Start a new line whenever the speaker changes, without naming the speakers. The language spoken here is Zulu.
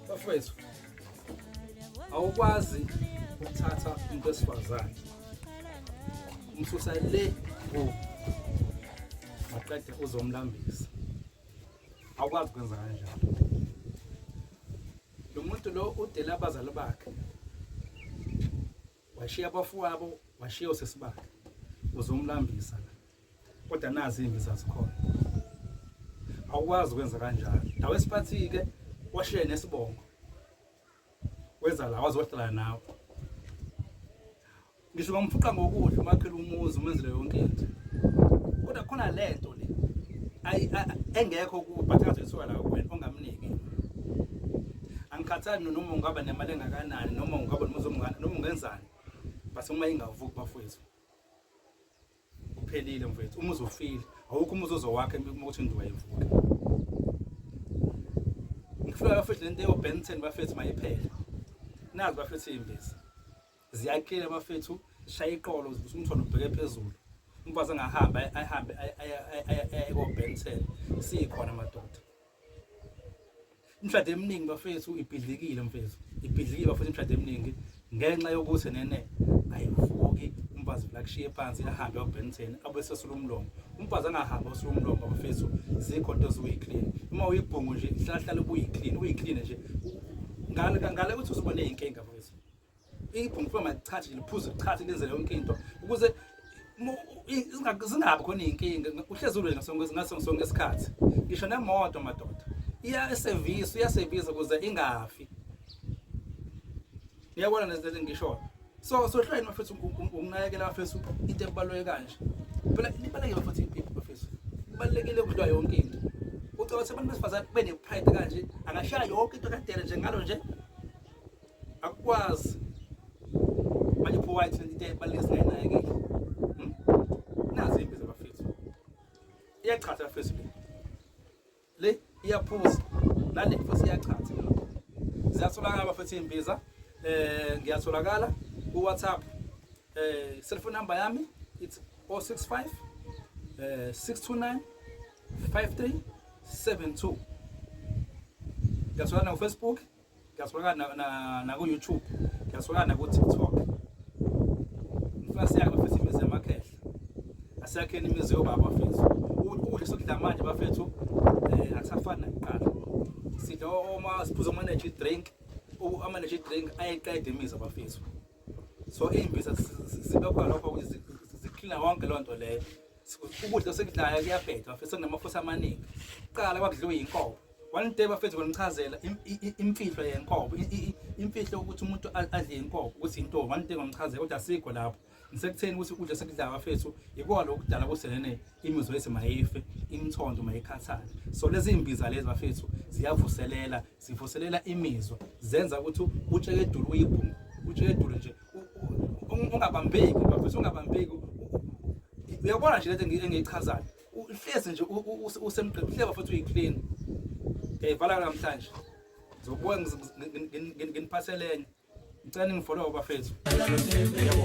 Bafowethu,
awukwazi ukuthatha umuntu wesifazane umsusa le ngoku maqede uzomlambisa awukwazi kwenza kanjalo lo muntu lo udela abazali bakhe washiya abafowabo washiya usisi bakhe uzomlambisa kodwa nazi imbi zazikhona awukwazi kwenza kanjalo nawe siphathi-ke washiye nesibongo weza la wazohlala nawe ngisho ngamfuqa ngokudla umakhela umuzi umenzele yonke into kodwa khona le nto le engekho kubhathaza isuka la kuwena ongamniki angikhathali noma ungaba nemali engakanani noma ungaba nomuzi omngane noma ungenzani base uma ingavuki bafowethu uphelile mfethu uma uzofile awukho umuzi ozowakhe uma uthi nduwa ivuka ngifuna bafethu lento yo Benton bafethu mayiphele nazi bafethu imbiza ziyakile bafethu shaya iqolo ukuthi umthondo ubheke phezulu umfazi angahamba ahambe aye ko Benton sikhona madoda imshado eminingi bafethu ibhidlikile mfethu ibhidlikile bafethu imshado eminingi ngenxa yokuthi nene ayivuki umfazi lakushiye phansi ahambe obenten abesesula umlomo umfazi angahambi osula umlomo bafethu zikho into eziwuyiclean uma uyibhungu nje hlahlala ubuyiclean uyiclean nje ngale ngale ukuthi uzobona izinkinga bafethu iphunga kuba malithathe liphuze lithathe lenze yonke into ukuze zingabi khona iy'nkinga uhlezi ulwe ngaso sonke isikhathi ngisho nemoto madoda iyasevisa iyasevisa ukuze ingafi niyabona lezi lezi ngishoyo so sohlwayini bafethu ukunakekela bafethu into ebaluleke kanje phela libalulekile bafethu impilo bafethu kubalulekile ukudlwa yonke into ucabanga ukuthi abantu besifazane kube ne-pride kanje angashaya yonke into kadere njengalo nje akukwazi manje pho wathi into ebaluleke singayinakekeli hmm? nazi impi zabafethu iyachatha abafethu le le iyaphuza nale futhi iyachatha ziyatholakala abafethu imbiza eh ngiyatholakala ku WhatsApp eh cellphone number yami it's 065 eh 629 5372 ngiyatholakala ku Facebook Ngiyasibona na, na, na ku YouTube. Ngiyasibona na ku TikTok. Ngifuna siyake bafethu imizi yamakhehla. Asiyakheni imizi yobaba bafethu. Ukudla sokudla manje bafethu eh akusafani nakuqala. Sidla oma siphuza ama energy drink. Ama energy drink ayeqeda imizi bafethu. So imbiza sibe khona lokho ukuthi ziklina wonke lonto leyo. ukudla osekudlayo kuyabhedwa mfethu sekunamafusa amaningi kuqala kwakudliwe yinkomo one day bafethu ngonichazela imfihlo yenkomo imfihlo ukuthi umuntu adle inkomo ukuthi into one day ngonichazela kodwa sikho lapho ngisekutheni ukuthi ukudla sekudlayo bafethu yikona lokudala kuselene imizwa yethu mayife imthondo mayikhathale so lezi imbiza lezi bafethu ziyavuselela zivuselela imizwa zenza ukuthi utshekedulu uyibhungu utshekedulu nje ungabambeki bafethu ungabambeki uyabona nje lento engiyichazayo uhlezi nje usemgqini uhleba futhi uyi-clean ngiyayivala namhlanje ngizobuya nginiphathelenye ngicela ningifollowe bafethu yebo